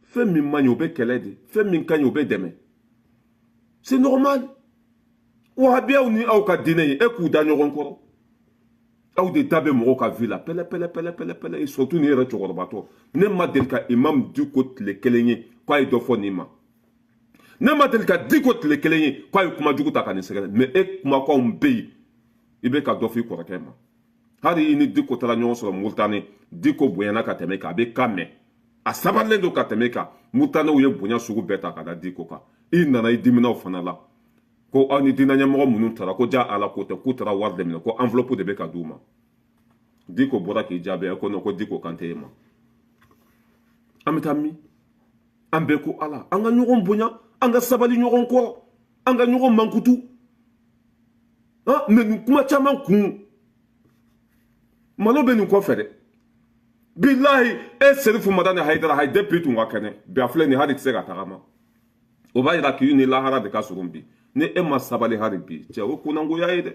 fɛn min man ɲi o bɛ kɛlɛ de fɛn min ka ɲi o bɛ dɛmɛ c'est normal wahabiyaw ni aw ka diinɛ ye e k'u da ɲɔgɔn kɔrɔ aw de da bɛ mɔgɔw ka vie la pɛlɛpɛlɛpɛlɛpɛlɛpɛlɛ e surtout ne yɛrɛ cɛkɔrɔbatɔ ne ma deli ka imam diko tile kelen ye k'a ye dɔ fɔ nin ma ne ma deli ka diko tile kelen ye k'a ye kuma jugu ta ka nin sɛgɛrɛ mais e kumakanw bɛ yen i bɛ ka dɔ fɔ i kɔrɔkɛ ma hali i ni diko taara ɲɔgɔn sɔrɔ muritani diko bonyana ka tɛmɛ i kan a bɛ kan mɛn a sabalilen don ka tɛmɛ i kan muritanew ye bonya sugu bɛɛ ta ka da diko kan i nana i dimina o fana la ko aw ni diinɛ ɲɛmɔgɔ minnu taara ko ja ala ko tɛ k'u taara wari de minɛ ko enveloppe de bɛ ka di u ma diko bɔra k'i jaabi a ko non ko diko kan tɛ e ma an bɛ taa min an bɛɛ ko ala an ka ɲɔgɔn bonya an ka sabali ɲɔgɔn kɔrɔ an ka ɲɔgɔn mankutu mais nin kuma caman kun malo bɛ nin kɔfɛ dɛ bilahi e serifu madani hayidara hali depuis i tun ka kɛnɛ bi a filɛ nin hali i tɛ se ka tagama o b'a yira k'i ni lahara de ka surun bi ni e ma sabali hali bi cɛ o ye kunangoya ye dɛ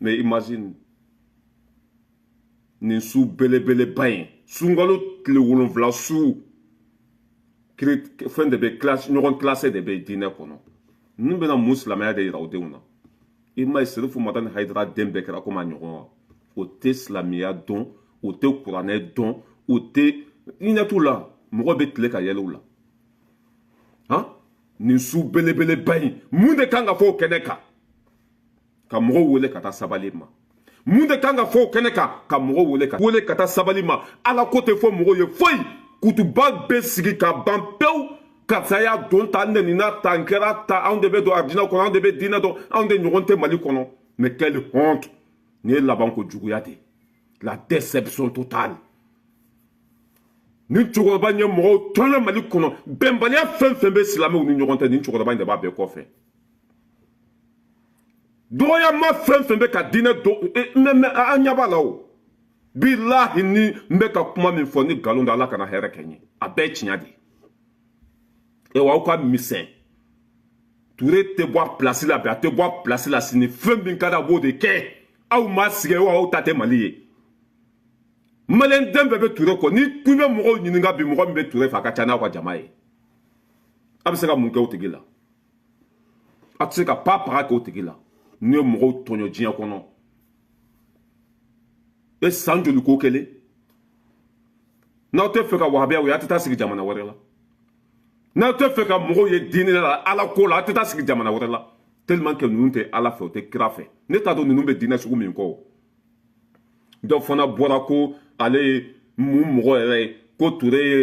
mais imagine nin su belebeleba in sunkalo tile wolonfila su fɛn de bɛ ɲɔgɔn kilase de bɛ diinɛ kɔnɔ ninnu bɛna mun silamɛya de yira u denw na i ma ye serifu madani hayidara den bɛɛ kɛra komi a ɲɔgɔn wa u tɛ silamɛya dɔn u tɛ kuranɛ dɔn o tɛ i ɲɛ t'u la mɔgɔ bɛ tile ka yɛlɛ u la han nin su belebeleba in mun de kan ka fɔ o kɛnɛ kan ka mɔgɔw wele ka taa sabali ma mun de kan ka fɔ o kɛnɛ kan ka mɔgɔw wele ka wele ka taa sabali ma ala ko tɛ fɔ mɔgɔw ye foyi kutuba bɛ sigi ka ban pewu karisa y'a don tan nɛnina tan kɛra tan anw de bɛ don arijinɛ kɔnɔ anw de bɛ diinɛ dɔn anw de ɲɔgɔn tɛ mali kɔnɔ mais quelle honte nin ye labanko jugu ye dɛ la déception totale nin cɛkɔrɔba in ye mɔgɔw tɔɲɔ mali kɔnɔ bɛnbaliya fɛn fɛn bɛ silamɛw ni ɲɔgɔn cɛ nin cɛkɔrɔba in de b'a bɛɛ kɔfɛ dɔgɔyama fɛn fɛn bɛ ka diinɛ dɔ mɛ mɛ an ɲɛ b'a la o bilahi ni n bɛ ka kuma min fɔ ni nkalon don ala kana hɛrɛ kɛ n ye a bɛɛ tiɲɛ de ye wa aw ka misɛn ture tɛ bɔ a pilasi la bi a tɛ bɔ a pilasi la sini fɛn min ka di a b'o de kɛ aw ma sigi wa aw ta tɛ mali ye maliden bɛɛ bɛ ture kɔ n'i tun bɛ mɔgɔw ɲininka bi mɔgɔ min bɛ ture fɛ a ka ca n'aw ka jama ye a bɛ se ka mun kɛ o tigi la a tɛ se ka pa paga k'o tigi la n'u ye mɔgɔw tɔɲɔ diɲɛ kɔnɔ e san joli ko kelen n'aw tɛ fɛ ka wahabiyaw ye a tɛ taa sigi jamana wɛrɛ la n'aw tɛ fɛ ka mɔgɔw ye diinɛ la ala ko la a tɛ taa sigi jamana wɛrɛ la tellement que ninnu tɛ ala fɛ u tɛ kira fɛ ne t'a dɔn ninnu bɛ diinɛ sugu min kɔ dɔ fana bɔra ko ale ye mun mɔgɔ yɛrɛ ye ko ture ye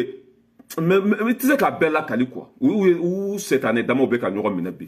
mɛ i tɛ se ka bɛɛ lakali kuwa u setanɛ damaw bɛ ka ɲɔgɔn minɛ bi